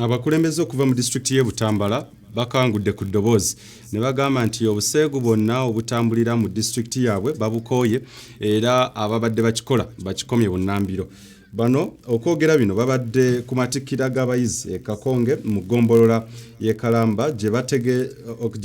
Abakulembeze okuva mu disitulikiti y'e Butambala bakangudde ku ddoboozi ne bagamba nti obuseegu bwonna obutambulira mu disitulikiti yaabwe babukooye era ababadde bakikola bakikomye bunnambiro. Bano okwogera bino babadde ku matikkira g'abayizi e Kakonge mu ggombolola y'e Kalamba gye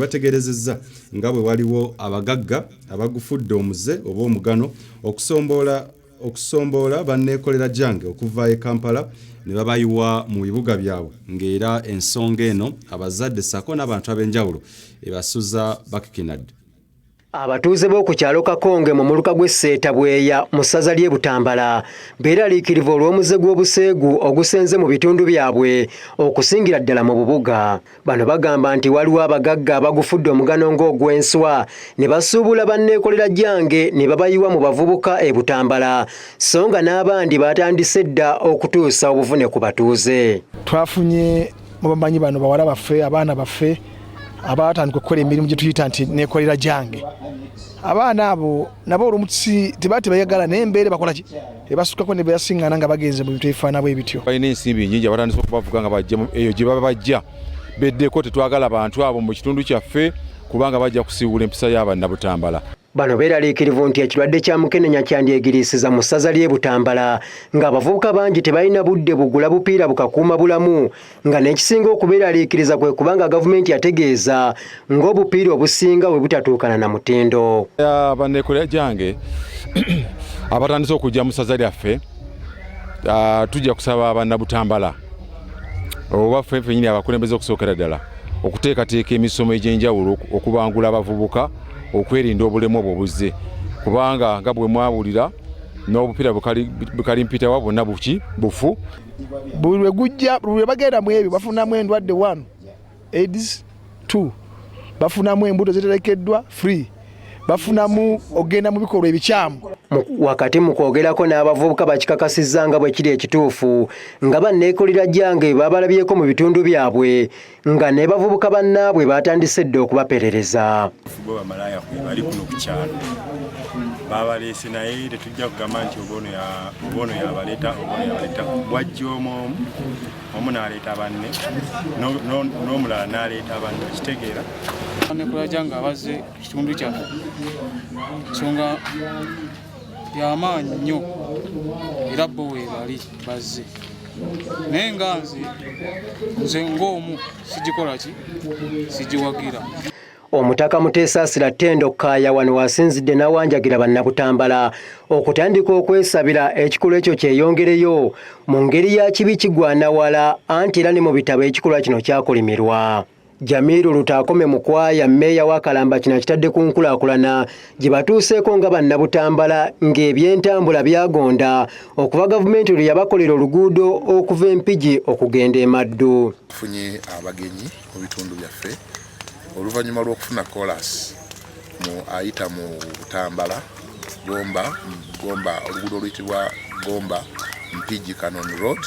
bategeerezezza nga bwe waliwo abagagga abagufudde omuze oba omugano okusomboola okusomboola banneekolera gyange okuva e Kampala ne babayiwa mu bibuga byabwe ng'era ensonga eno abazadde ssaako n'abantu ab'enjawulo ebasuza bakikinadde. Abatuuze b'oku kyalo Kakonge mu muluka gw'e Sseetabweya mu ssaza ly'e Butambala beeraliikirivu olw'omuze gw'obuseegu ogusenze mu bitundu byabwe okusingira ddala mu bubuga. Bano bagamba nti waliwo abagagga abagufudde omugano ng'ogw'enswa ne basuubula banneekolera gyange ne babayiwa mu bavubuka e Butambala so nga n'abandi baatandise dda okutuusa obuvune ku batuuze. Twafunye mu bamanyi bano bawala baffe abaana baffe abaatandika okukola emirimu gye tuyita nti neekolera gyange abaana abo nabo olumu tebaa tebayagala naye embeera bakolaki ebasukako ne beyasiŋŋana nga bagenze mu bintu ebifaana bwe bityo balina ensimbi nyingi abatandisa okubavuga nga bajja eyo gye baba bajja beddeko tetwagala bantu abo mu kitundu kyaffe kubanga bajja kusiiwula empisa y'abanna butambala bano beeraliikirivu nti ekirwadde kya mukenenya kyandyegiriisiza mu ssaza ly'e butambala ng'abavubuka bangi tebalina budde bugula bupiira bukakuuma bulamu nga n'ekisinga okubeeraliikiriza kwe kubanga gavumenti yategeeza ng'obupiira obusinga bwe butatuukana na mutindo banneekolera gyange abatandise okujja mu ssaza lyaffe ah, tujja kusaba bannabutambala oba ffe fenyini abakulembeze okusookera ddala okuteekateeka emisomo egy'enjawulo okubangula abavubuka okwerinda obulemu obwo buzze kubanga nga bwe mwawulira n'obupiira bukalimpitawa bwonna buki bufu buli lwe gujja buli lwe bagenda mu ebyo bafunamu endwadde one aids two bafunamu embuto ziterekeddwa free bafunamu okugenda mu bikolwa ebikyamu wakati mu kwogerako n'abavubuka bakikakasizza nga bwe kiri ekituufu nga banneekolera gyange babalabyeko mu bitundu byabwe nga ne bavubuka bannaabwe baatandise dda okubaperereza fuba bamalaaya kwe bali kuno ku kyalo babaleese naye tetujja kugamba nti oboono yabaleeta oboono yabaleeta bwajja omu omu omu n'aleeta banne n'omulala n'aleeta banne okitegeera nekulaja nga baze kitundu kyaffe nsonga yamaanyi nnyo era bo webali bazze naye nga nze nze ng'omu sigikola ki sigiwagira omutaka muteesaasira ttendo kkaaya wano wasinzidde n'awanjagira bannabutambala okutandika okwesabira ekikolwa ekyo kyeyongereyo mu ngeri ya kibi kigwanawala anti era ne mu bitabo ekikolwa kino kyakolimirwa Jamiru Lutaakome Mukwaya mmeeya wa Kalamba kino akitadde ku nkulaakulana gye batuuseeko nga bannabutambala ng'ebyentambula byagonda okuva gavumenti lwe yabakolera oluguudo okuva Empigi okugenda e Maddu. Tufunye abagenyi mu bitundu byaffe oluvannyuma lw'okufuna koolaasi mu ayita mu Butambala Gomba Gomba oluguudo oluyitibwa Gomba Mpigi Canon Road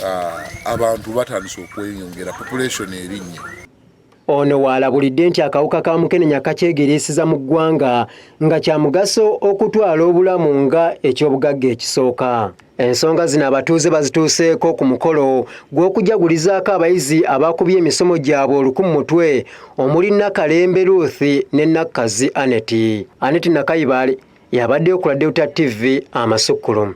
ah, abantu batandise okweyongera population erinnya ono waalabulidde nti akawuka ka mukenenya kakyegeriisiza mu ggwanga nga kya mugaso okutwala obulamu nga eky'obugagga ekisooka ensonga zino abatuuze bazituuseeko ku mukolo gw'okujagulizaako abayizi abaakubye emisomo gyabwe oluku mu mutwe omuli nakalembe ruth ne nakkazi aneti aneti nakayibaale yabaddeyo ku radeuta tv amasukkulumu